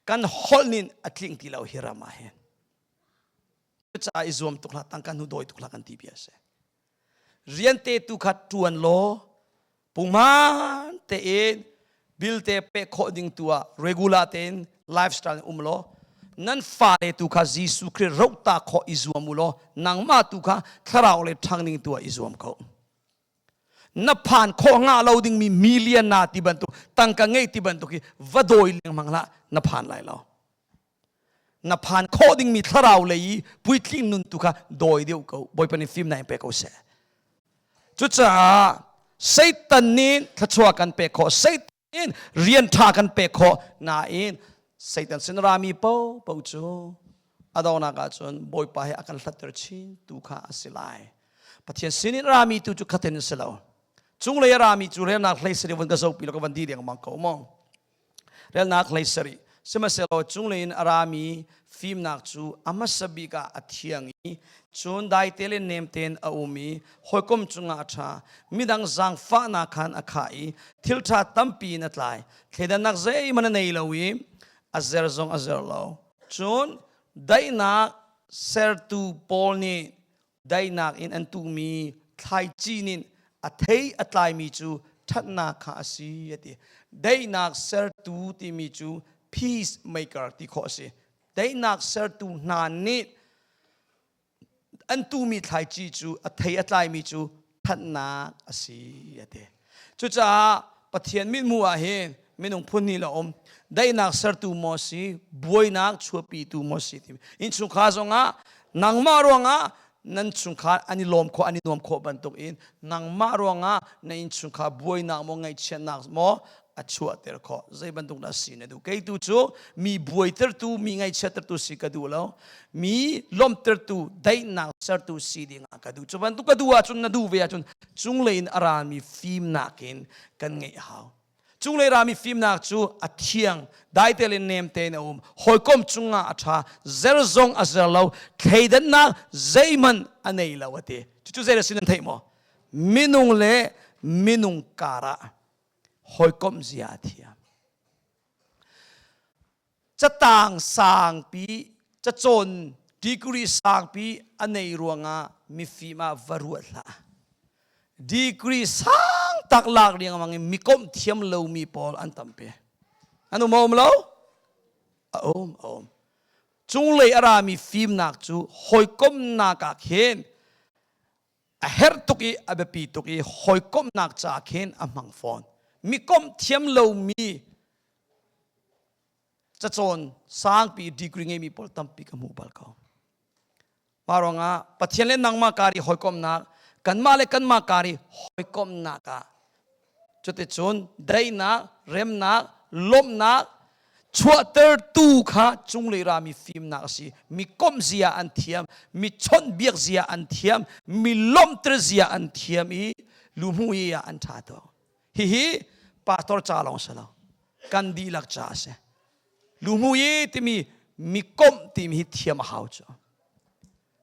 kan holh nin a tling ti lo hi ram ah hin. Cucaah i zuam tuk hlah, tangka hnu dawi tuk hlah kan ti bia a si. rian te tu kha ṭuan law pungman tein bill te pek khawh ding tu ah regular tein lifestyle um law nan fale tu kha Jesuh Khrist rohta khawh i zuam u law nangmah tu kha thlarau le ṭhangning tu ah i zuam ko na phan khawh nga lo dingmi million na ti bantuk tangka ngei ti bantuk hi va dawi lengmang hlah na phan lai lo na phan khawh dingmi thlarau lei i puitling nun tu kha dawi deuh ko bawipa nih fim na in pe ko seh cucaah satan nih thluachuah kan pek khawh satan in rian ṭha kan pek khawh nain satan sin rami popo cu a donak ahcun bawipa he a kan hlatter chin tu kha a si lai pathian sin in rami tu cu khaten a si lo cunglei a rami cu relnak hlei sari vun ka zopi lo ka van di deng mang ko mong relnak hlei sarih sihmanhsehlaw cunglei in a rami fimnak cu a hmasa bik ah a thiang i cun daite le nem tein a um i hawikom cungah a ṭha midang zaangfahnak khan a khah i thil ṭha tampi in a tlai thleidannak zeihmanh a nei lo i a zer zong a zer lo cun daihnak sertu paul nih daihnak in an tuhmi thlaici nih a thei a tlaimi cu ṭhatnak kha a si a ti. Daihnak sertu timi cu peacemaker ti khawh a si. Daihnak sertu hna nih an tuhmi thlaici cu a thei a tlaimi cu thanhnak a si a ti cucaah pathian mithmuh ah hin minung phun hnih la um daihnak sertu maw si buainak chuahpitu maw si ti innchungkhar zongah nangmah ruangah nan chungkhar an i lawm khawh an i nuam khawh bantuk in nangmah ruangah na innchungkhar buainak maw ngaihchiatnak maw a chuahter khawh zei bantuk na si na duh kei tu cu mi buaitertu mi ngaihchiatertu si ka duh lo mi lawmhtertu daihnak sertu si ding ah ka duh cu bantuk ka duh ahcun na duh ve ahcun cunglei in a rami fimnak in kan ngeih hau cunglei rami fimnak cu a thiang daite le nemte in a um hawikom cungah a ṭha zer zong a zer lo thleidannak zeihmanh a nei lo a ti cucu zei a si nan theih maw minung le minung karah hawikomh zia a thiam catang sangpi cacawn degree sangpi a nei ruangah mifim ah va ruat hlah degree sang tak lak riang mang in mikomh thiam lomi pawl an tampe an um om lo a um a um cunglei a rami fimnak cu hawikomhnak ah khin a herh tuk i a biapi tuk i hawikomhnak ca khin a hmang fawn mi komh thiam lomi cacawn sangpi degree ngeimi pawl tampi ka hmu bal ko mah ruangah pathian le nangmah kar i hawikomhnak kanmah le kanmah kar i hawikomhnak ah Cuticun daihnak, remnak, lawmhnak chuahtertu kha cunglei rami fimnak a si. Mi komh zia an thiam, mi chawnhbiak zia an thiam, mi lawmhter zia an thiam i luhmu hi ah an ṭha tuk. Hihi pastor ca lawng si lo, kan dihlak ca a si. Luhmu i timi mi komh timi hi thiam a hau cu.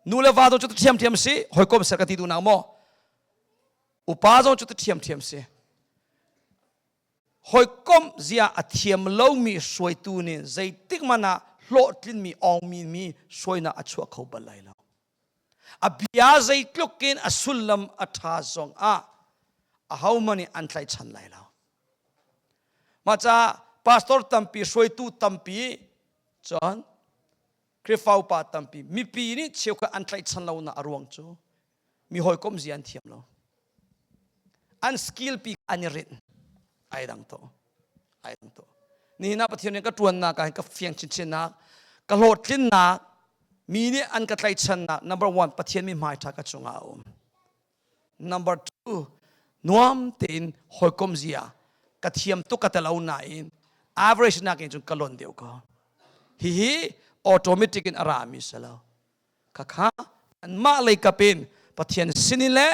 Nu le va tu cu thiamthiam si, hawikom ser ka ti duh nak maw? upa zong cu tu ṭhiamṭhiam si hawikomh zia a thiam lomi hruaitu nih zeitik man ah hlawhtlinmi awngmi mi suainak a chuah kho bal lai lo a bia zeitluk in a sullam a ṭha zong ah ahoman nih an tlaichan lai lo maca pastor tampi hruaitu tampi cun Khrihfa upa tampi mipi nih cheu khat an tlaichan lonak a ruang cu mi hawikom zi an thiam lo an skill pi an i rin ai dang to ai dang to ni na pathian nih ka tuannak ah ka fiang chinchinnak ka hlawhtlinnak mi nih an ka tlaichannak number one pathian mi hmai tha ka chungah a um number two nuam tein hawikom zia ka thiam tu ka telo nain average nak in cun ka lon deuh ko hi hi automatic in a ra mi salo khakha anmah lei kap in pathian sin in le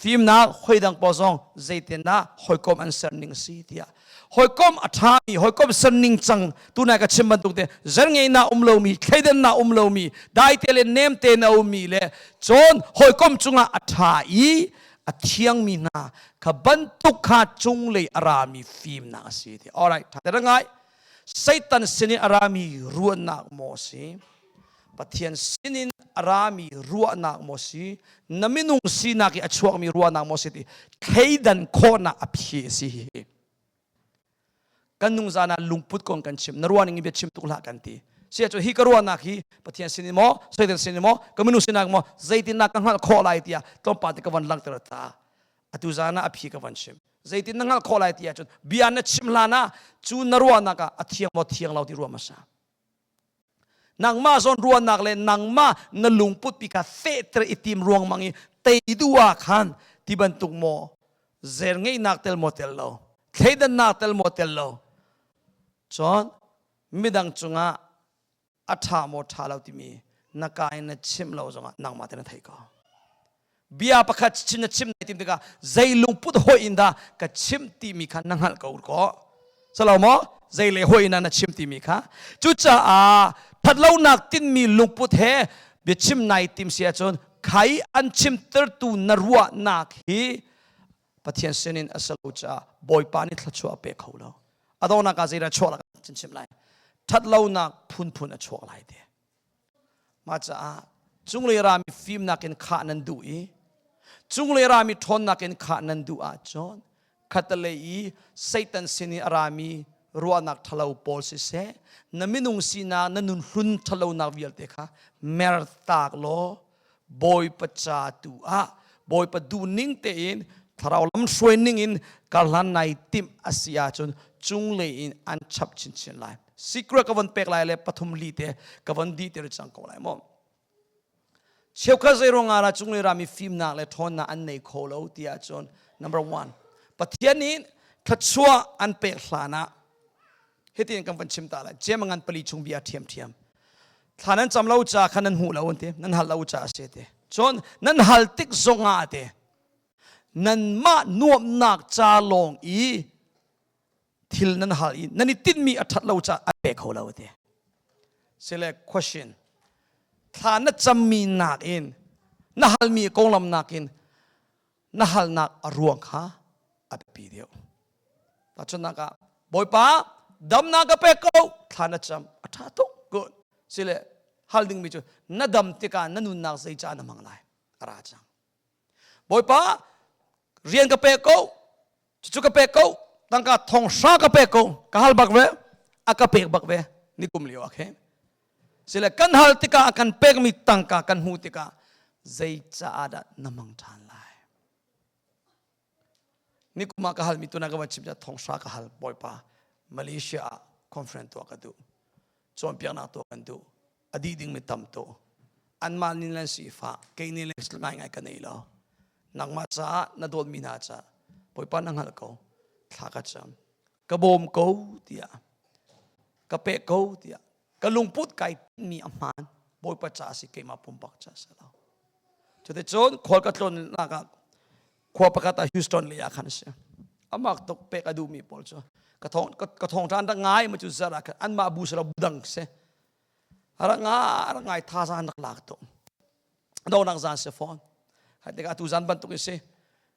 fimnak hoidang pawl zong zeitindah hoikom an ser ning si tiah hoikom a ṭhami hoikom ser ning cang tunai ka chim bantuk te zerngeina um lomi thleidanna um lomi daite le nemte na ummi le cun hoikom cungah a ṭha i a thiangmi hna kha bantuk kha cunglei a rami fimnak a si ti alright ṭha ngai Satan sin i a rami ruannak maw a si Pathian sinin a rami ruahnak maw si na minung sinak i a chuakmi ruahnak maw si ti thleidan khawhnak a phi a si hi kan nungzan ah lungput kong kan chim na ruahning in bia chim tuk hlah kan ti sia cu hi ka ruahnak hi pathian sin i maw satan sin i maw ka minung sinak maw zeitinnak ka hngalh khawh lai tiah tlawmpal te ka van langhter ta atu zan ah a phi ka van chim zeitin na hngalh khawh lai tiah cun bia na chim hlan ah cu na ruahnak ah a thiang maw thiang lo ti ruah masa nangmah zawnruahnak le nangmah na lungput pika fehter i tim ruangmang i tei du ah khan ti bantuk maw zer ngeihnak tel maw tel lo thleidannak tel maw tel lo cun midang cungah a ṭha maw ṭha lo timi na ka in na chimh lo zongah nangmah te na thei ko bia pakhat chim na chim na tim tikah zei lungput hoi in dah ka chim timi kha na hngalh ko kaw salo maw zei le hoi in na chim timi kha cucaah thatlonak tinmi lungput he biachim nai tim si ahcun khai an chim tertu na ruahnak hi pathian sinin a salo caah bawipa nih thlachuah a pe kho lo a donak ah zeidah chuah lak chinchim lai thatlonak phunphun a chuak lai te Mah caah cunglei rami fimnak in khah nan duh i cunglei rami ṭhawnnak in khah nan duh ahcun khatalei i Satan sin i a rami ruahnak ṭhalo pawl siseh na minung sinak na nunhlun ṭhalonak vialte kha mer taak law bawipa ca tu ah bawipa du ning tein thlarau lam hruai ning in karhlan nai tim asi ahcun cunglei in an chap chinchin lai secret ka von pek lai le pathum li te ka von di te cang ko lai maw cheukhat zeirong ara cunglei rami fimnak le ṭhawnnak an nei kho lo ti ahcun number one pathian in thluachuah an pek hlan ah hitin kan van chim ta lai cem ngan pali chung bia thiam thiam thla nan cam lo ca kha nan hmu lo an ti nan hal lo ca a si ti cun nan hal tik zong ah te nan mah nuamnak ca lawng i thil nan hal i nan i tinmi a that lo ca a pe kho lo ti sile question thla na cammi nak in na halmi konglam nakin na halnak a ruang kha a biapi deuh. Tahchunnak ah, Bawipa, damnak ka pek ko, thla na cam, a ṭha tuk. Good. Sile hal dingmi cu, na dam tikah na nunnak zei ca na hmang lai? A ra cang. Bawipa, rian ka pek ko, cucu ka pek ko tangka thong hra ka pek ko ka hal bak ve a ka pek bak ve ni kum lio akhe sile kan hal tikah kan pekmi tangka kan hmu tikah zei caah dah na mang ṭhan lai ni kuma ka halmi tuna ka va chim thong hra ka hal bawipa malaysia ah conference tuah ka duh cawnpiaknak tuah kan duh a dih dingmi tam tuk anmah nih nan sifah kei nih ngaingai ka nei lo nangmah caah na dawtmi hna caah bawipa na hngalh ko thla ka cam ka bawm ko tiah ka pek ko tiah ka lungput kai mi a hmaan bawipa ca si keimah pumpak ca si lo cuti cun khual ka tlawnnak ah khua pakhat ah Houston lei ah khan a si amah tuk pek a duhmi pawl cu ka thong ka thong than rak ngai ma cu zara khan an mah bu sala dang se ranga rangai tha zan rak lak to do nak zan se phone hat tika tu zan bantuk isi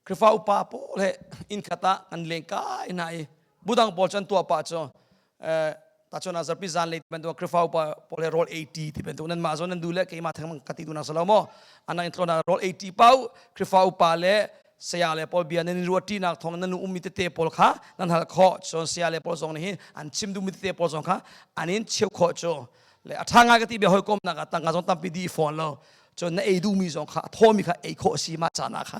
krifa upa pawl he in khata an leng kai na i budang pawl chan tua pa cho tacun azarpi zan le bantuk krifau pole roll 80 ti bantuk nan mah zon nan du le keima thang ka ti tu na salo mo anan intlo na roll 80 pau krifau pa le saya le pol bia nan ruati nak thong nan um mi te te pol kha nan hal kho chon saya le pol zong hi an chim du mi te pol zong kha anin cheu kho cho le athanga ka ti bia hoi kom na ka tanga zong tampi di phone lo chon na ei du mi zong kha atho mi kha ei kho si ma cha na kha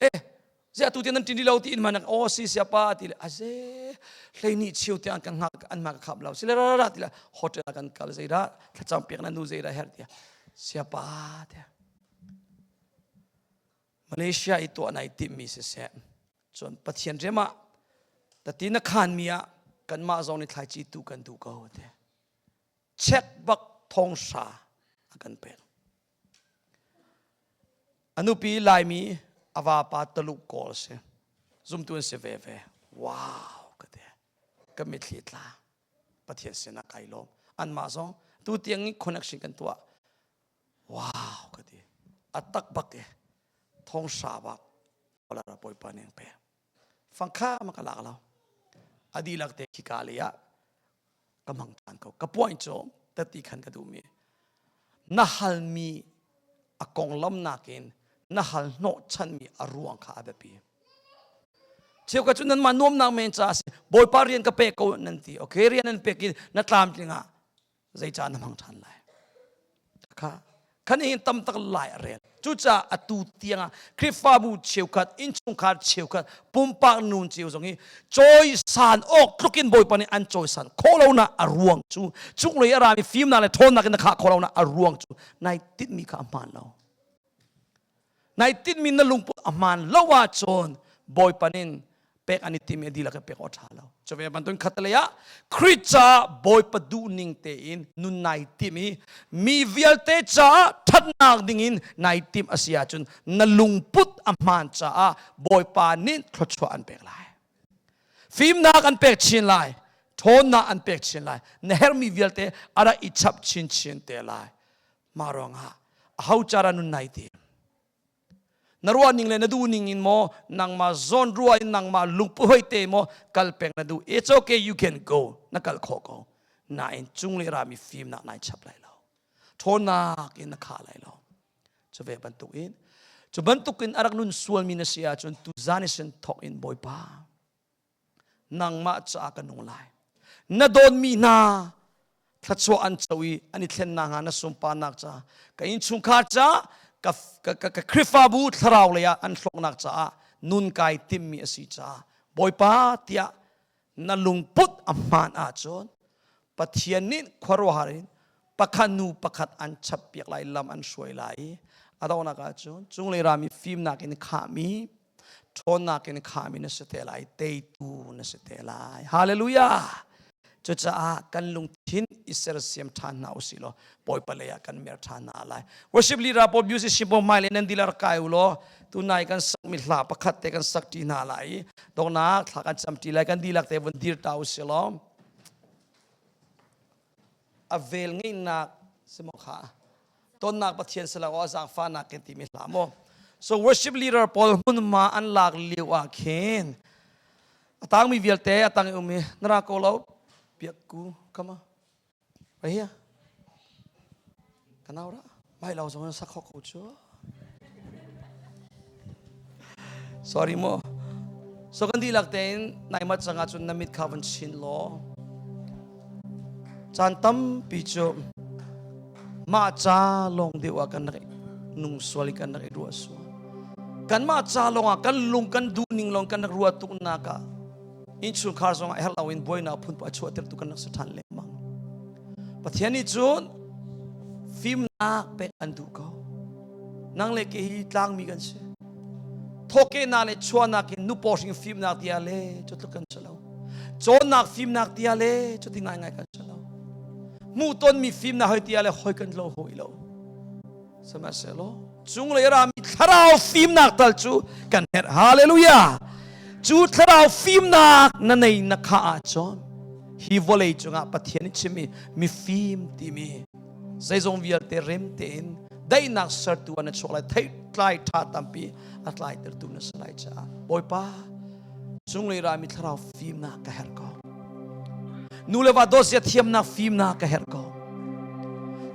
eh ziah tu tiang nan ṭin rih lo tiin hmanak aw si siapa ti le a ze hlei nih chio te an kan hngak an ma ka khap lo sile ra ra ti le hotel ah kan kal zei dah thlacam piak na nu zei dah her tia siapa tia Malaysia i to anai tim mi si se cun pathian rema tati na khan mi ah kanmah zong nih thlaici tu kan du ko te check bak thong sha a kan pek A nupi Laimi a vapa Taluk kawl si. Zumtu an si veve. Wow ka ti. Ka mitthli tla. Pathian sinah kai lawm. Anmah zong tu tiang i connection kan tuah. Wow ka ti. A tak bak i thong sha bak. Olara Bawipa ning pe. fangkham ka lak lo a dihlak te khika le ah ka mang than ko ka point cu tati khan ka duhmi na halmi a konglam nakin na hal hnawhchanmi a ruang kha a biapi cheu ka cu nan man nuamnak men ca a si bawipa rian ka pek ko nan ti okay rian nan pek i na tlamtling ah zeica na hmang ṭhan lai kha khan hin tam tak lai a rel cucaah atu tiangah khrihfabu cheukhat innchungkhar cheukhat pumpak nu cio zong hi cawisan awk tlukin bawipa nih an cawisan khawh lonak a ruang cu chunglei a rami fimnak le ṭhawnnak in na khah khawh lonak a ruang cu nai tinhmi kha a hmaan lo nai tinmi na lungput a hmaan lo ahcun bawipa nin pek an i tim i dihlak ka pek awt ṭha lo cu ve bantuin khatalei ah Krit caah bawipa duh ning tein nun nai tim i mi vialte caah ṭhatnak dingin nai tim a si ahcun na lungput a hmaan caah bawipa nin thluachuah an pek lai fimnak an pek chin lai ṭhawnnak an pek chin lai na herhmi vialte ara i chap chinchin te lai mah ruangah aho cara nun nai te na ruah ning le na duh ning in maw nangmah zawn ruah in nangmah lungpu hoi te maw kal peng na duh it's okay you can go na kal kho ko nain chung le rami fim nak nai chap lai lo ṭhawnnak in na kha lai lo cu ve bantuk in cu bantuk in arak nun sual mi na si ahcun tu zan i sin thok in bawipa nangmah ca ka nung lai na dawnmi hna thluachuah an co i an i thlen na hnga na sunparnak ca ka innchungkhar ca ka, ka, ka, ka Khrihfabu thlarau lei ah an hlawknak caah nun kai timmi a si caah Bawipa tiah na lungput a hmaan ahcun Pathian nih khuaruahhar in pakhat nu pakhat an chappiak lai lam an hruai lai i a dohnak ahcun cunglei rami fimnak in khahmi ṭhawnnak in khahmi na si te lai teitu na si te lai hallelujah cucaah kan lungthin i sersiam ṭhan hna u silaw bawipa lei ah kan mer ṭhan hna lai worship leader paul musician paul hmai le nan dilar kai u law tunai kan sakmi hla pakhat te kan sak ṭi hna lai i donghnak thla kan cam ṭi lai kan dihlak te vun dir ta u silaw a vel ngeihnak si maw kha tonnak pathian si lo awah zaangfahnak kan timi hla maw so worship leader paul hmunhma an lak lio ah khin a tangmi vialte a tang i um i nara ko lo piak ku kama right here kanau ra Mai lo zong sak ko cu. Sorry mo. So kan dihlak tein nai mat cang cun na mit kha van chin law. Caan tampi cu mah ca lawng deuh ah kan rak nung sual i kan rak i ruah sual. Kan mah ca lawng ah kan lung kan duh ning lawng kan rak ruat tuk nak ah innchungkhar zongah herh loin buainak phunpa a chuahtertu kan rak si ṭhan lengmang pathian nih cun fimnak pek an duh ko nang le ke hi tlangmi kan si thawkehnak le chuahnak in nu hring fimnak dia le cu tluk kan si lo cawnnak fimnak dia le cu ti ngaingai kan si lo hmuhtonmi fimnak hoi tia le hoi kan lo hoi lo sihmanhsehlaw cunglei rami thlarau fimnak tal cu kan herh hallelujah cu thlarau fimnak na nei na kha ahcun hi vawlei cungah pathian in chimmi mifim timi zeizong vialte rem tein daihnak sertu na chuak lai theitlai ṭha tampi a tlai tertu na si lai caah bawipa Cunglei rami thlarau fimnak ka herh ko. Nu le va dawt sia thiamnak fimnak ka herh ko.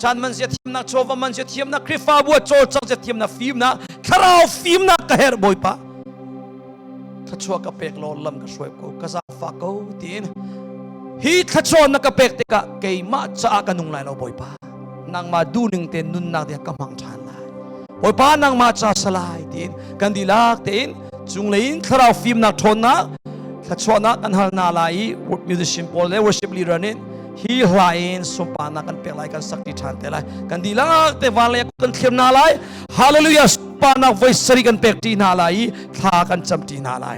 Chan man sia thiamnak chawva man sia thiamnak Khrihfabu chawl cang sia thiamnak fimnak thlarau fimnak ka herh bawipa. Thluachuah ka pek lo lam ka hruai ko ka zafa ko tiin hi thluachuah na ka pek tikah keimah caah ka nung lai lo bawipa. nangmah duhning tein nunnak ding ka hmang ṭhan lai hawipa nangmah ca salai tiin kan dilak tein cunglei in thlarau fimnak ṭhawnnak thluachuahnak kan hal na lai i musician pawl le worship leader nih hi hla in sunparnak kan pek lai kan sakti ṭhan te lai kan dilak te vanlei kan thlir na lai hallelujah sunparnak voi sari kan pek ṭi hna lai i thla kan cam ṭi hna lai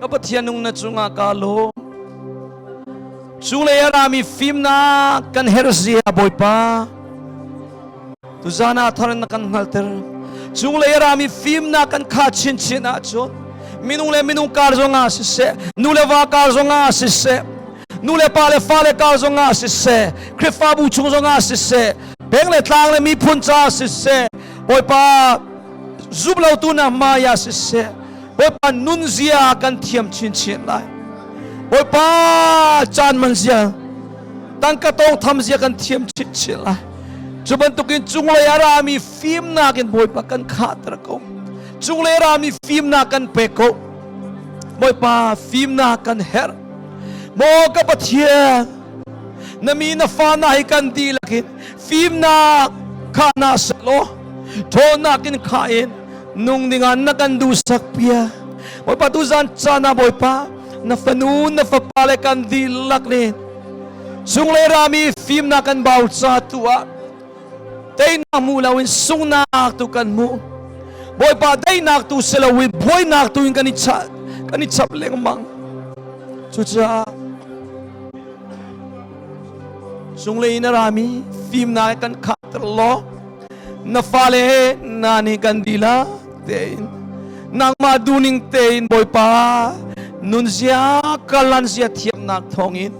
ka pathian nung na cungah ka lawm cunglei ah rami fimnak kan herh zia bawipa tu zan ah thar na kan hngalter cunglei rami fimnak kan kha chinchin ah cun minung le minung kar zongah siseh nu le va kar zongah siseh nu le pa le fa le kar zongah siseh khrifabu chung zongah siseh peng le tlang le miphun ca siseh bawipa zumlotu na hmaya siseh Bawipa nunzia kan thiam chinchin lai. Bawipa caan man zia, tangka tawngtham zia kan thiam chinchin lai. Cu bantukin cunglei a rami fimnak in Bawipa kan khahter ko. Cunglei rami fimnak kan pek ko. Bawipa fimnak kan herh. Maw ka Pathian, na mi na fa na hi kan dihlakin fimnak kha na selaw, ṭhawnnak in kha in nung dingah na kan duhsak pia bawipa tu zan cana bawipa na fanu na fapa le kan dihlak len sung le rami fimnak kan bau ca tu ah teinak mu loin sungnak tu kan mu bawipa teinak tu si loin buainak tu in kan i chap kan i chap lengmang cucaah sung le in a rami fimnak kan khahter law na fale na nih kan dila tein nangmah duning tein bawipa nunzia kalan zia thiamnak thawngin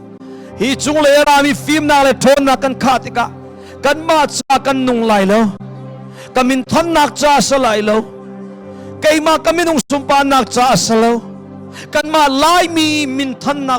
hi cung le rami fimnak le ṭhawnnak kan khah tikah kanmah ca kan nung lai lo ka min thonnak ca a sa lai lo keimah ka minung sunparnak ca a sa lo kanmah laimi min thonnak